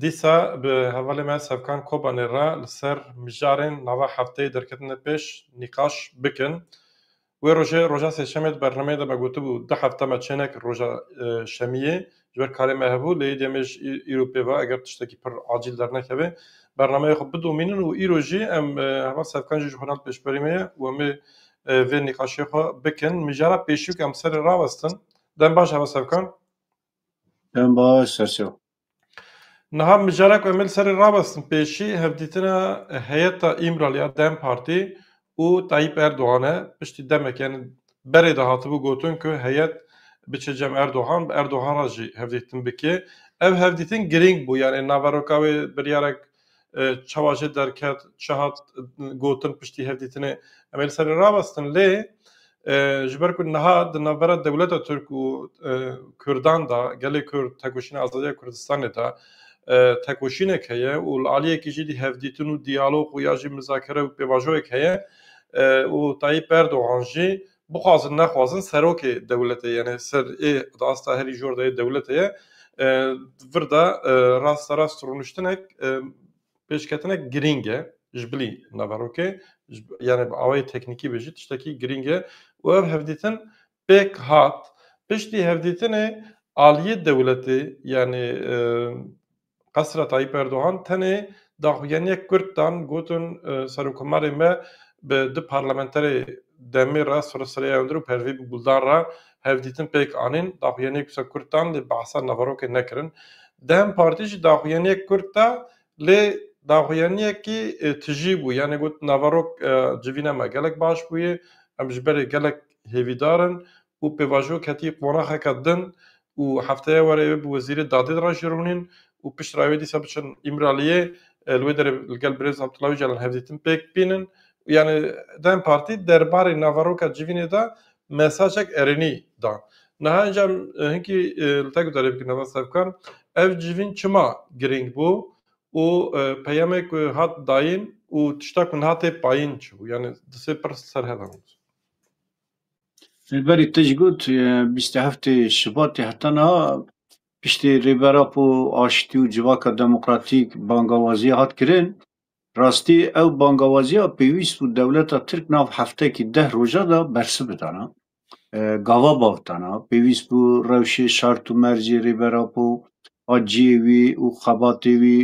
Dîsa bi hevalê me Sevkan Kobanê re li ser mijarên nava hefteyê derketinê pêş nîqaş bikin. Wê rojê roja sêşemê di bernameyê de me gotibû du hefte me çê nekir roja şemiyê ji ber karê me hebû lê îdî em ê ji îro pê ve eger tiştekî pir acîl dernekeve bernameyê xwe bidomînin û îro jî em heval Sevkan jî ji xwe re li pêşberî me ye û em ê vê nîqaşê xwe bikin. Mijara pêşî ku em serê rawestin dem baş heval Sevkan? Dem baş Serçe. Niha mijarek em ê li serê rawestin pêşî hevdîtina heyeta Îmral ya dem Partî û Tayyîp Erdogan e. Piştî demek yani berê de hatibû gotin ku heyet biçe cem Erdogan bi Erdogan re jî hevdîtin bike. Ev hevdîtin girîng bû yani naveroka wê biryarek Çawa jê derket, çi hat gotin piştî hevdîtinê em ê li ser rawestin lê ji ber ku niha di navbera dewleta Tirk û Kurdan da gelê Kurd tekoşîna azadiya Kurdistanê de tekoşînek heye û li aliyekî jî dî hevdîtin û diyalog û ya jî mizakere û pêvajoyek heye û Tayyîp Erdogan jî Bixwazin nexwazin serokê dewletê yenê ser ê di asta herî jor de yê dewletê ye vir de rasta rast rûniştinek pêşketinek girîng e ji bilî naverokê yanê bi awayê teknîkî be jî tiştekî girîng e û ev hevdîtin pêk hat piştî hevdîtinê aliyê dewletê yanê Qesra Tayyîp Erdogan tenê daxuyaniyek kurt dan gotin serokkomarê me bi du parlamenterê DEM'ê re Sure Sureyya Önder û Pervî Buldan re hevdîtin pêk anîn. Daxuyaniyek wisa kurt dan lê behsa naverokê nekirin. Dem Partî jî daxuyaniyek kurt da lê daxuyaniyekî tijî bû yanê got naverok civîna me gelek baş bûye, em ji berê gelek hêvîdar in û pêvajo ketî qonaxeke din û hefteya were ê bi wezîrê dadê re jî rûnîn û piştre wê dîsa biçin Îmraliyê li wê derê li gel birêz Abdullah Ocalan hevdîtin pêk bînin. Yanî dem Partî derbarê naveroka civînê de mesajek erênî da. Niha înca em hinkî li te guderê bikin Navaz Sevkan, ev civîn çima girîng bû û peyamê ku hat dayîn û tişta ku niha tê payîn çi bû? Yanî di sê pirs li ser hev hebûn. Li berî tij got, bîst û heftê Şubatê heta niha piştî Rêbera ku aştî û civaka demokratîk bangawaziya hat kirin, rastî ew bangawaziya pêwîst bû dewleta Tirk nav heftekî deh roja de bersi bidana. Gava bav dana. Pêwîst bû rewşê şart û mercê Rêbera ku a cihê wî û xebatê wî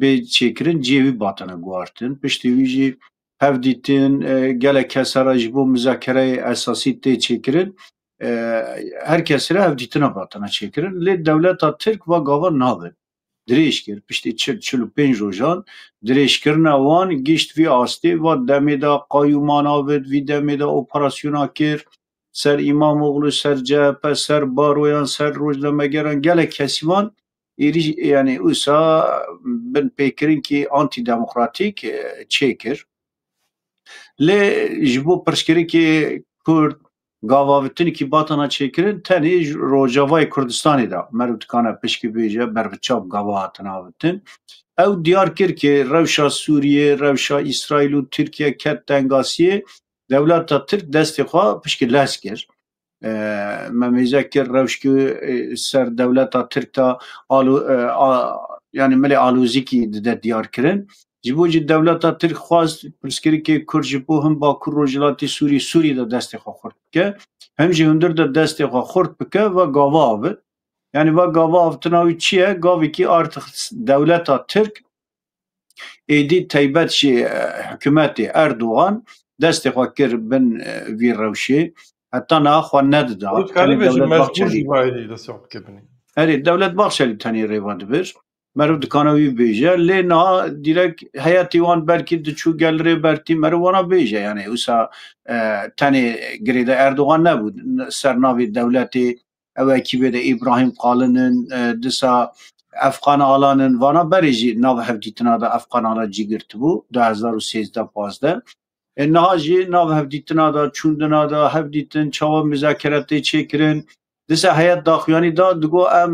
bê çêkirin cihê wî batene guhartin. Piştî wî jî hevdîtin, gelek kes re ji bo mizakereyê esasî tê çêkirin. Her kes re hevdîtina hatine çêkirin. Lê dewleta Tirk va gava nabe. Dirêj kir, piştî çil, çil û pênc rojan dirêjkirina wan gihişt vî astê, va demê de qayûman avêt, vî demê de operasyona kir ser Îmamoglû, ser CHP, ser baroyan, ser rojnamegeran, gelek kesî van Êrîş yanî wisa bin pêkirinkê antîdemokratîk çêkir. Lê ji bo pirsgirêkê Kurd gavavitinekî batana çêkirin tenê ji Rojavayê Kurdistanê de meriv dikane pişkî bêje berbiçav gava hatine avitin. Ew diyar kir ke rewşa Sûriyê, rewşa Îsraîl û Tirkiye ket tengasiyê dewleta Tirk destê xwe pişkî lez kir. Me mêze kir rewşke ser dewleta Tirk de yanî milê alozîkî dide diyarkirin. Ji bo jî dewleta Tirk xwest pirsgirêkê Kurd ji bo him Bakur Rojhilatê Sûrî Sûrî de destê xwe xurt bike, him jî hundir de destê xwe xurt bike ve gava avit. Yanî ve gava avitina wî çi ye? Gavêkî artix dewleta Tirk Êdî taybet jî hikûmetê Erdogan destê xwe kir bin vî rewşê heta niha xwe nedida. Erê dewlet Bahçelî tenê rêva dibir. Meriv dikana wî bêje lê niha dîrek heyetî wan belkî diçû gel rê bertî meriv wana bêje yanî wisa tenê girêdayî Erdogan nebû ser navê dewletê ew ekîbê de Îbrahîm Qalin in, disa Efqan Alan in, vana berê jî nav hevdîtina de Efqan Ala cî girtibû du hezar û sêzdeh pazdeh. E, niha jî nav hevdîtina de, çûndina de, hevdîtin çawa muzakere tê çêkirin. Disa heyet daxuyanî da, digo em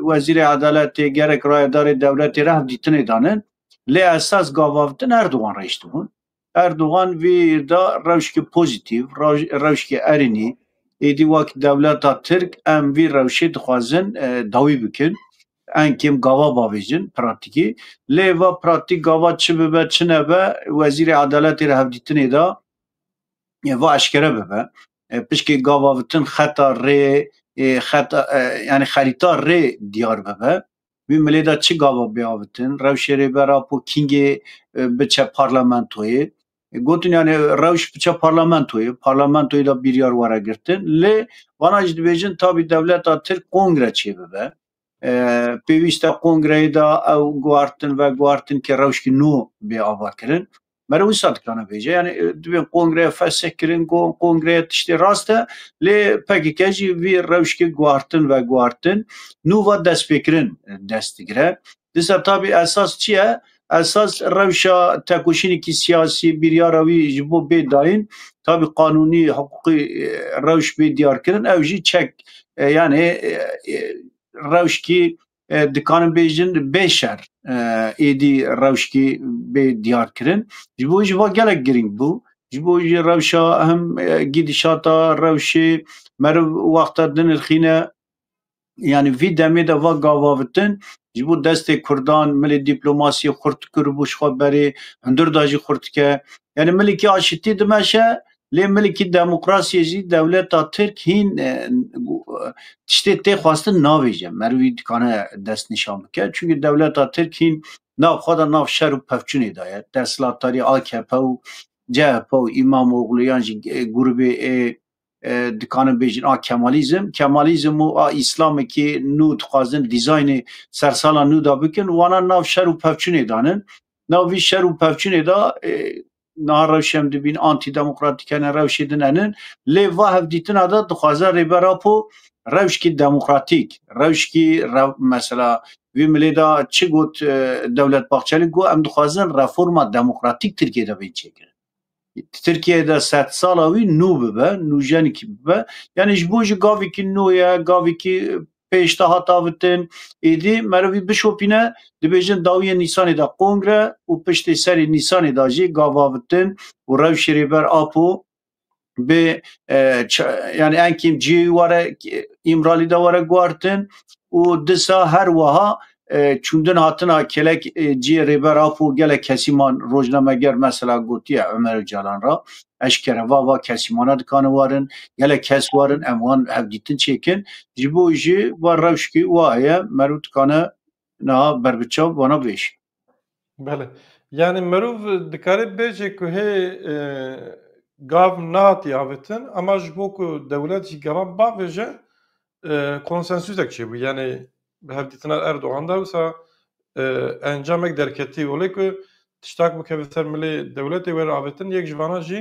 Wezîrê Edaletê gerek rayedarê dewletê re hevdîtinê danin. Lê esas gavavtin Erdogan re îştibûn. Erdogan vê da rewşke pozîtîv, rewşke erênî. Êdî wek dewleta Tirk em vî rewşê dixwazin dawî bikin. Ên kêm gava bavêjin pratîkî. Lê va pratîk gava çi bibe çi nebe Wezîrê Edaletê li hevdîtinê da va eşkere bibe. Pişkê gavavitin xeta rê xeta yanî xerîta rê diyar bibe. Wî milê de çi gava bê avitin? Rewşê Rêbera Po Kîngê biçe parlamentoyê. Gotin yani rewş biçe parlamentoyê. Parlamentoyê de biryar were girtin. Lê vana jî dibêjin tabî dewleta Tirk kongre çêbibe. Pêwîste kongreyê de ew guhartin veguhartin ke rewşkî nû bê avakirin. Mere wisa dikane bêje yani dibên kongreya fesek kirin got kongreya tiştê rast e lê PKK jî vî rewşkê guhartin ve guhartin nû ve destpêkirin dest digire. Disa tabî esas çi ye? Esas rewşa tekoşînekî siyasî biryara wî ji bo bê dayîn tabî qanûnî hiqûqî rewş bê diyarkirin ew jî çek yani rewşkî dikarin bêjin bê şer êdî rewşkê bê diyarkirin ji bo jî va gelek girîng bû ji bo jî rewşa him gîdişata rewşê meriv wexta dinirxîne yanî vî demê de va gavavitin ji bo destê kurdan milê dîplomasiyê xurt kiribû ji xwe berê hundir da jî xurt dike yanî milîkî aşitî dimeşe Lê milkî demokrasiyê jî dewleta Tirk hîn tiştê tê xwestin navêje. Merivî dikane dest nîşan bike. Çimkî dewleta Tirk hîn nav xwe de nav şer û pevçûnê de ye. Desthilatdarî akp û chp û Îmamoglû yan jî grûbê ê dikanin bêjin a kemalîzm. Kemalîzm û a îslamekî nû dixwazin dîzaynê ser sala nû de bikin. Wana nav şer û pevçûnê de ne. Nav vî şer û pevçûnê de Niha rewş hem dibîn antîdemokratîk hene, rewşê din henin. Lê va hevdîtina de dixwaze Rêber Apo rewşkî demokratîk, rewşkî rew mesela vî milê de çi got e, Dewlet Bahçelî got em dixwazin reforma demokratîk Tirkiyeyê de bên çêkirin. Tirkiyeyê de sed sala wî nû bibe, nûjenekî bibe. Yanî ji bo ji gavekî nû ye, gavekî Pêş te hat avitin, êdî merov vî bişopîne, dibêjin dawiyê Nîsanê de kongre û piştê serê Nîsanê de jî gavavitin û rewşê Rêber Apo bi yanî enkêm cihê wî were Îmralî de were guhartin û disa her wiha çûndin hatina kelek ciyê rêber Apo gelek kesîman rojnameger mesela gotiye Ömer Öcalan ra eşkere va va kesîmana dikane warin gelek kes warin em wan hevdîtin çêkin ji bo jî va rewşkî wa heye merû dikane niha berbiçav vana vêşî. Belê. Yanî mirov dikarê bêje ku hê gav nehatiye avêtin ema ji bo ku dewlet jî gavan bavêje konsensusek çêbû. Yanî bi hevdîtina Erdogan de wisa encamek derketî olê ku tiştak bikeve ser milê dewletê were avêtin yek ji vanan jî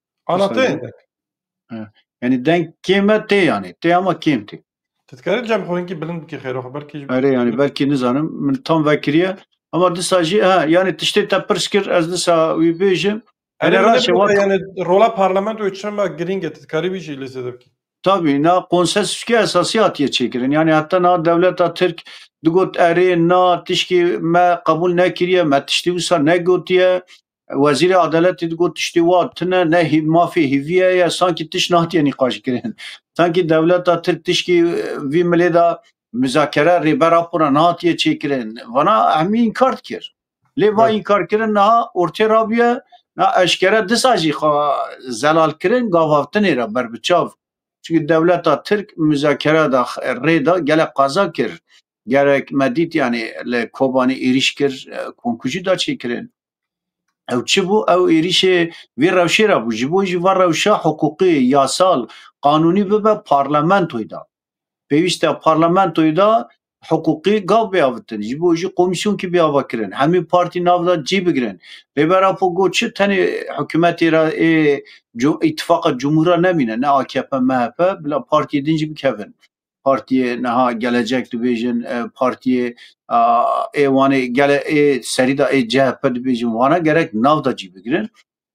Ana tê. Yani denk kême tê yani. Tê ama kêm tê. Tu dikarî cem xwînkî bilind bikî xêro xwe belkî ji Erê yani belkî nizanim min tam vekiriye. Ama disa jî ha yani tiştê te pirs kir ez disa wî bêjim. Erê Erê raşê wak yani rola parlamentoyê çima girîng e tu dikarî wî jî lêsê de bikî. Tabii na konsensüske esasî hatiye çêkirin. Yani heta na dewleta Tirk digot erê na tişkî me qebûl nekiriye, me tiştî wisa negotiye. Wezîrê Adeletê digot tiştê wa tune ne hîv mafê hîviye ye sankî tişt nehatiye nîqaşkirin. Sankî dewleta Tirk tişkî vî milê de muzakere rêber rapora nehatiye çêkirin. Vana hemî înkar dikir. Lê va înkarkirin niha ortê rabiye na eşkere disa jî xwe zelalkirin gavavtinê re ber bi çav. Çikî dewleta Tirk muzakere de rê da gelek qaza kir. Gerek me dît yanî li Kobanê êrîş kir ku hûn kujî da çêkirin. Ew çi bû? Ew êrîşê vê rewşê re bû. Ji bo jî van rewşa hiqûqî, yasal, qanûnî bibe parlamentoyê de. Pêwîst e parlamentoyê de hiqûqî gav biavitin. Ji bo jî komîsyonkî biava kirin. Hemî partî nav de cî bigirin. Rêber Apo got çi tenê hikûmetê re ê îtifaqa cumhûr re nemîne ne akp, mhp bila partiyê din jî bikevin. partiyê niha gelecek dibêjin e, partiyê a, ê wanê gele ê serî da ê CHP dibêjin wana gerek nav da cî bigirin.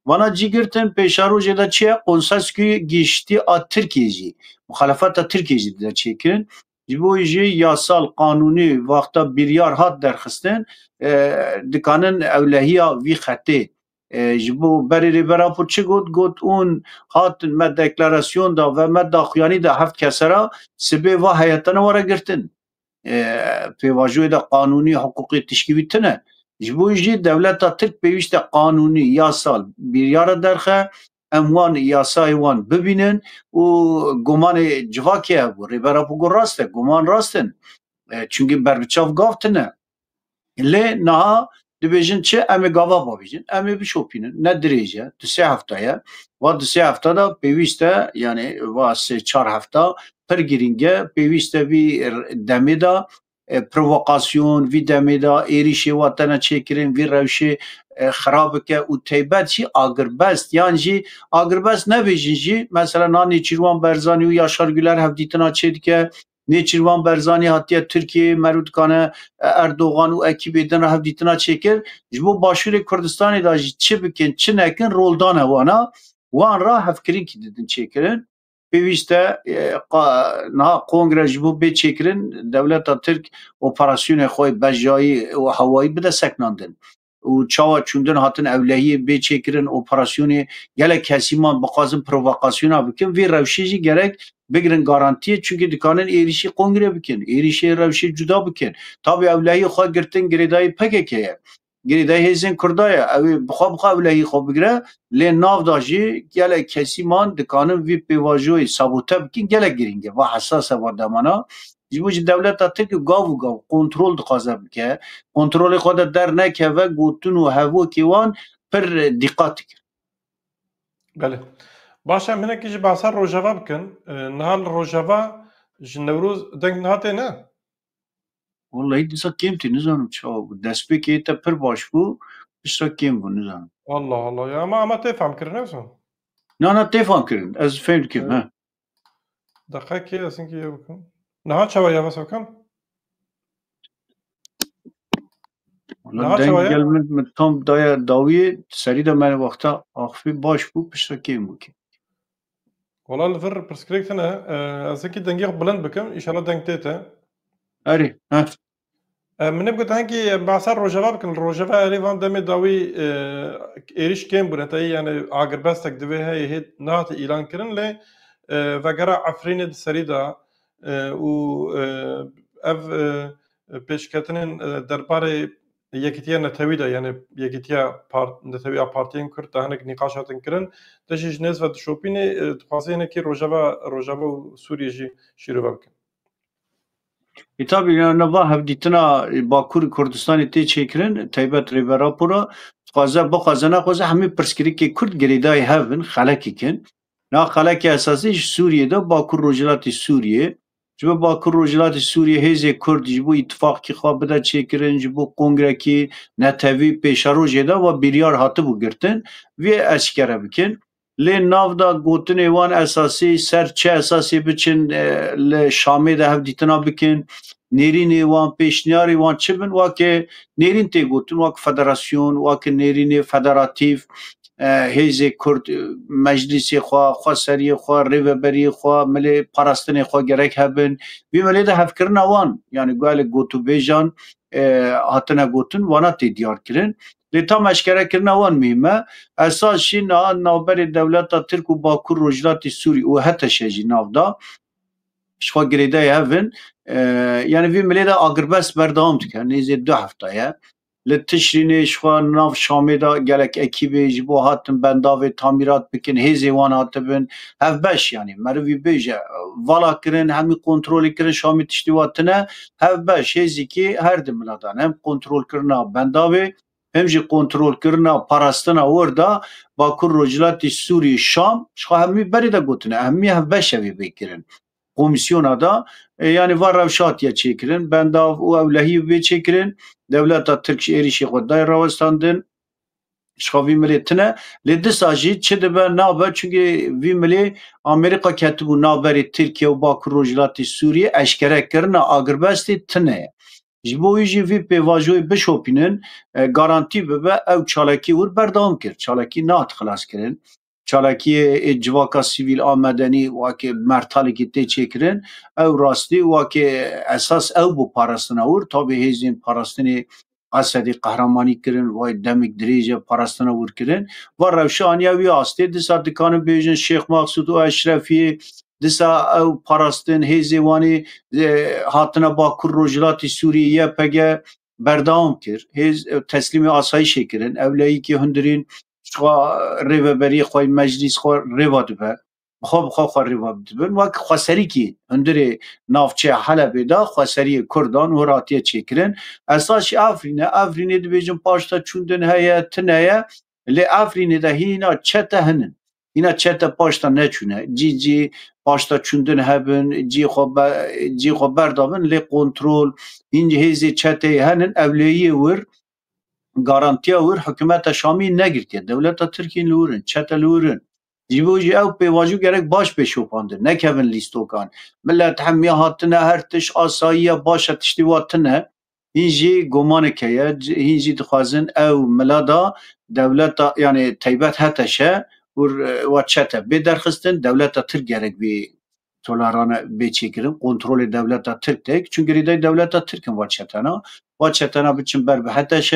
Vana cî girtin pêşarojê de çi ye qonseskî giştî a Tirkiyê jî muxalefeta Tirkiyê jî dide çêkirin. Ji bo jî yasal qanûnî vaxta biryar hat derxistin e, dikanin ewlehiya vî xetê Ji bo berê Rêbera Pûr çi got? Got ûn hatin me deklarasyon da ve me daxuyanî da heft kese ra sibê va heyete ne were girtin. Pêvajoyê de qanûnî hiqûqê tişkî wî tune. Ji bo jî dewleta Tirk pêwîste qanûnî, yasal bîryare derxe em wan yasayê wan bibînin û gumanê civakê hebû. Rêbera xwe got rast e, guman rast in. E, Çimkî berbiçav gav tune. Lê niha dibêjin çi? Em ê gava bavêjin, em ê bişopînin. Ne dirêj e, du sê hefta ye. Va du sê hefta de pêwîst e, yanî va sê çar hefta pir girîng e. Pêwîst e vî demê de provokasyon, vî demê de êrîşê wa tene çêkirin, vî rewşê xirab bike û teybet jî agirbest yan jî agirbest nebêjin jî mesela na Nêçîrvan Berzanî û Yaşar Güler hevdîtina çê dike. Nêçîrvan Berzanî hatiye Tirkiyeyê meriv dikane Erdogan û ekîbê din re hevdîtina çêkir. Ji bo Başûrê Kurdistanê de jî çi bikin çi nekin roldana wan e. Wan re hevkirinkî didin çêkirin. Pêwîst e niha kongre ji bo bê çêkirin dewleta Tirk operasyonê xwe yê bejayî û hewayî bide sekinandin û çawa çûndin hatin ewlehiyê bê çêkirin operasyonê gelek kesî man bixwazin provokasyona bikin vê rewşê jî gerek bigirin garantiyê çunkî dikanin êrîşî kongre bikin êrîşê rewşê cuda bikin tabî ewlehiyê xwe girtin girêdayî pkk ye. Girêdayî hêzên Kurda ye. Ew ê bi xwe bi xwe ewlehî xwe bigire. Lê nav de jî gelek kesî man dikanin vî pêvajoyê sabote bikin. Gelek girîng e. Va hesas e va demana. Ji bo jî dewleta Tirk gav û gav kontrol dixwaze bike. Kontrolê xwe de dernekeve gotin û hevokê wan pir dîqat dikin. Belê. Baş e hinekî jî behsa rojava bikin. Niha li rojava ji Newroz deng nihate ne? Walayi disa kêm tê nizanim çawa bû. Destpêkê te pir baş bû, disa kêm bû nizanim. Allah Allah ya ama ama tê fam kirin eso. Na na tê fam kirin. Ez fêm dikim he. Deqekê ez hinkî ye bikim. Niha çawa ya vesa bikim? Wala Niha çawa deng ye? gel min min tam daya dawiyê serî de me wexta axivî baş bû, pişta kêm bû kêm. Wala li vir pirsgirêk tune ez hekî dengê xwe bilind bikim îşala deng tê te. Erê ha. Min hep gotin hekî behsa rojeva bikin li rojeva erê van demê dawî êrîş kêm bûn heta yani agirbestek divê heyê hê nahate îlan kirin lê vegera Efrînê di serî da û ev pêşketinên derbarê Yekîtiya Netewî de yanê Yekîtiya Netewî ya Partiyên Kurd de hinek nîqaş hatin kirin. Te jî ji nêz ve dişopînê dixwaze hinekî rojeva rojava û Sûriyê jî şîrove bikin. E tabi nava hevdîtina Bakur Kurdistanê tê çêkirin taybet rê ve rapora dixwaze bixwaze naxwaze hemî pirsgirêkê Kurd girêdayî hev in xelek ikin. Niha qeleke esasî ji Sûriyê de Bakur Rojhilatê Sûriyê ye. Ji bo Bakur Rojhilatê Sûriyê hêzê Kurd ji bo îtîfaqkî xwe bide çêkirin, ji bo kongrekî netewî pêşerojê de we biryar hatibû girtin vê eşkere bikin. Lê navda gotinê wan esasî ser çi esasê biçin li Şamê de hevdîtina bikin, nêrînê wan, pêşniyarê wan çi bin, weke nêrîn tê gotin weke federasyon, weke nêrînê federatîf hêzê Kurd meclîsê xwe, xweseriyê xwe, rêveberiyê xwe, milê parastinê xwe gerek hebin. Vê welê de hevkirina wan yanî gelek gotûbêjan hatine gotin wana tê diyarkirin. Lê tam eşkerekirina wan muhîm e. Esas jî niha navberê dewleta Tirk û Bakur Rojhilatê Sûrî û HTŞ jî nav da ji xwe girêdayê hev in. Yanî vê milê de agirbest berdewam dike. Nêzê du hefte ye. Li Tişrînê jixwe nav Şamê de gelek ekîbê ji bo hatin bendavê tamîrat bikin hêzê wan hatibin hevbeş yanî merivî bêje vala kirin hemî kontrolê kirin Şamê tiştî wa tune hevbeş hêzîkî her di mila dan hem kontrol kirina bendavê hem jî kontrol kirina parastina wir de Bakur Rojhilatê Sûrî Şam jixwe hemî berê de gotine hemî hevbeş evê bê kirin Komîsyona de yanî van rewşa tîye çêkirin, bendav û ewlehî bê çêkirin. Dewleta Tirk ji êrîşê xwe dayê rawestandin. Ji xwe vî milê tune. Lê disa jî çi dibe nabe çunkî vî milê Amerîka ketibû navberê Tirkîye û Bakur Rojhilatê Sûrîyê eşkere kirina agirbestê tune ye. Ji bo wî jî vî pêvajoyê bişopînin garantî bibe ew çalakî wir berdewam kir. Çalakî nehat xilaskirin. Çalakiyê ê civaka sivîl a medenî wekî mertalekî tê çêkirin, ew rastî wekî esas ew bû parastina wir, tabî hêzên parastinê Esedî qehremanî kirin wayî demik dirêj e parastina wir kirin. Va rewşa aniya wî astê, disa dikarin bêjin Şêx Maxsûd û Eşrefiyê, disa ew parastin hêzê wan ê hatina Bakur Rojhilatî Sûriyê, YPG, berdewam kir. Hêz teslîmê asayîşê kirin. Ewleyîkî hundirîn jixwe rêveberiyê xwe yê meclîs xwe rêva dibe. Bixwe bixwe xwe rêva dibin. Wek xweserîkî hundirê navçeya Helebê de xweseriyê Kurdan hûr hatiye çêkirin. Esasî Efrîn e. Efrînê dibêjin paşta çûndin heye, tune ye. Lê Efrînê de hîna çete hinin. Hîna çete paşta neçûne. Cî cî paşta çûndin hebin, cî xwe cî xwe berdabin lê kontrol hîn ji hêzê çeteyê henin. Ewleyiyê wir, garantiya wir hikûmeta Şamî negirtiye. Dewleta Tirkîn li wir in, çete li wir in. Ji bo jî ew pêvajo gerek baş bê şopandin. Nekevin lîstokan. Milet hemî hatine her tişt asayiye baş e tiştê wa tune. Hîn jî gomanik heye, hîn jî dixwazin ew mila da dewleta yanê teybet HTŞ û wa çete bê derxistin, dewleta Tirk gerek vê tolerane bê çêkirin, kontrolê dewleta Tirk têk, çün girêdayî dewleta Tirk in va çetena. Va çetena biçin ber bi HTŞ,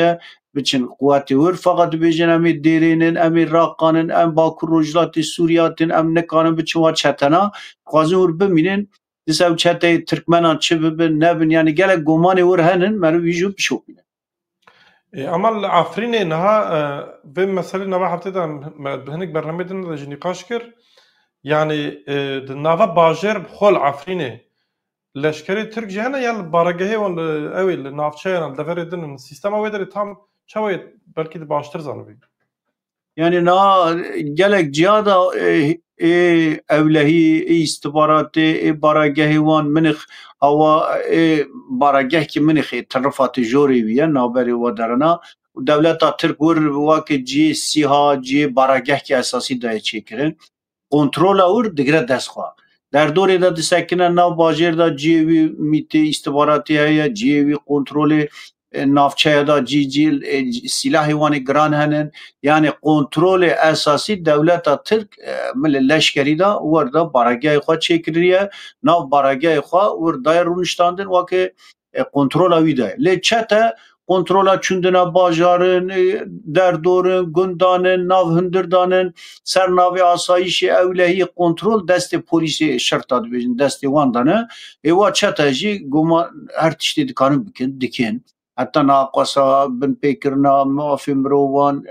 biçin quwetê wir, feqet dibêjin em ê dêrên in, em ê Raqan in, em Bakur Rojhilatê Sûriyê hatin, em nikarin biçin va çetena. Dixwazin wir bimînin, Dis ew çeteyê Tirkmenan çi bibin nebin yanî gelek gomanê wir henin meriv wî jî bişopîne. E, ama li Afrînê niha e, vê meselê nava heftê de bi hinek bernameyê din de jî nîqaş kir. Yanî e, di nava bajêr bi xwe li Afrînê leşkerê Tirk jî hene yan li baregehê wan li ewê li navçeyan li deverê din in sîstema wê derê tam çawa ye belkî di baştir zanibî. Yani na gelek ciya da ê ê ewlehî ê îstixbaratê ê baragehê wan minix awa ê barageh ki minix ê ti rifa ti jorê wî ye navberê we derina û dewleta tirk wir wake ciyê sîha ciyê barageh ki esasî dayê çêkirin. Kontrola wir digire dest xwe. Derdorê de disekine nav bajêr de ciyê wî mîtê îstixbaratî heye, ciyê wî kontrolê navçeye de cî cî sîlahê wan ê giran henin. Yanî kontrolê esasî dewleta Tirk milê leşkerî de wir de baragehê xwe çêkiririye. Nav baragehê xwe wir daye rûniştandin weke e, kontrola wî de. Lê çete kontrola çundina bajarin, e, derdorin, gundanin, nav hundirdanin, ser navê asayişê ewlehiyê kontrol destê polîsê şerta dibêjin destê wan de ne. Êwa çete jî goma her tiştê dikarin bikin, dikin. Heta naqasa, binpêkirina mafê mirovan,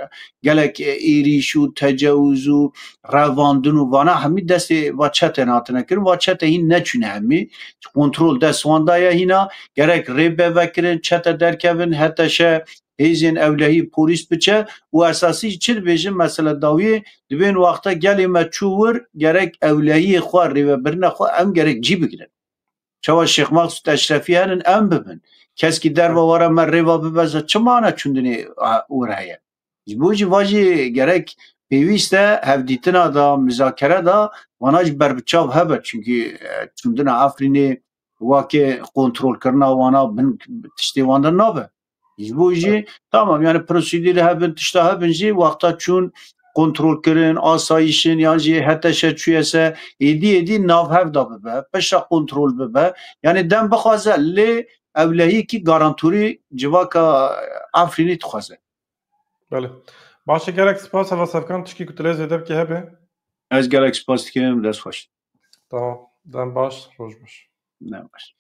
gelek êrîş û tecewûz û revandin û vana hemî destê va çetên hatine kirin. Va çete hîn neçûne hemî. Kontrol dest wan da ye hîna. Gerek rê be vekirin, çete derkevin, heteşe hêzên ewlehî polîs biçe û esasî jî çi dibêjin mesele dawiyê dibên wexta gelê me çû wir gerek ewlehiyê xwe rêvebirina xwe em gerek cî bigirin. Çawa Şêx Mexsûd Eşrefî herin em bibin. Keskî derve were me rêva bibeze çi mana çûndinê wir heye. Ji bo jî va jî gerek pêwîst e hevdîtina de, mizakere de wana jî ber bi çav hebe. Çunkî çûndina Efrînê wake kontrolkirina wana bin tiştê wan de nabe. Ji bo jî tamam yani prosedîrê hebin, tişta hebin jî wexta çûn kontrolkirin, asayişin yan jî heteşe çûye se êdî êdî navhev de bibe, pişta kontrol bibe. Yani dem bixwaze lê Ewlehîkî garantûrî civaka Efrînî dixwaze. Belê. Baş e gelek spas heva sevkan tişkî ku tu lê zêde bikî hebe. Ez gelek spas dikim dest xweş. Tamam. Dem baş roj baş. Ne baş.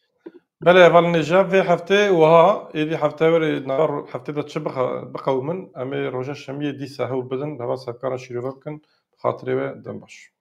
Belê heval nêje vê heftê wiha êdî hefte were nava heftê de çi biqewimin em ê roja şemiyê dîsa hewl bidin heva sevkana şîrove bikin bi xatirê we dem baş.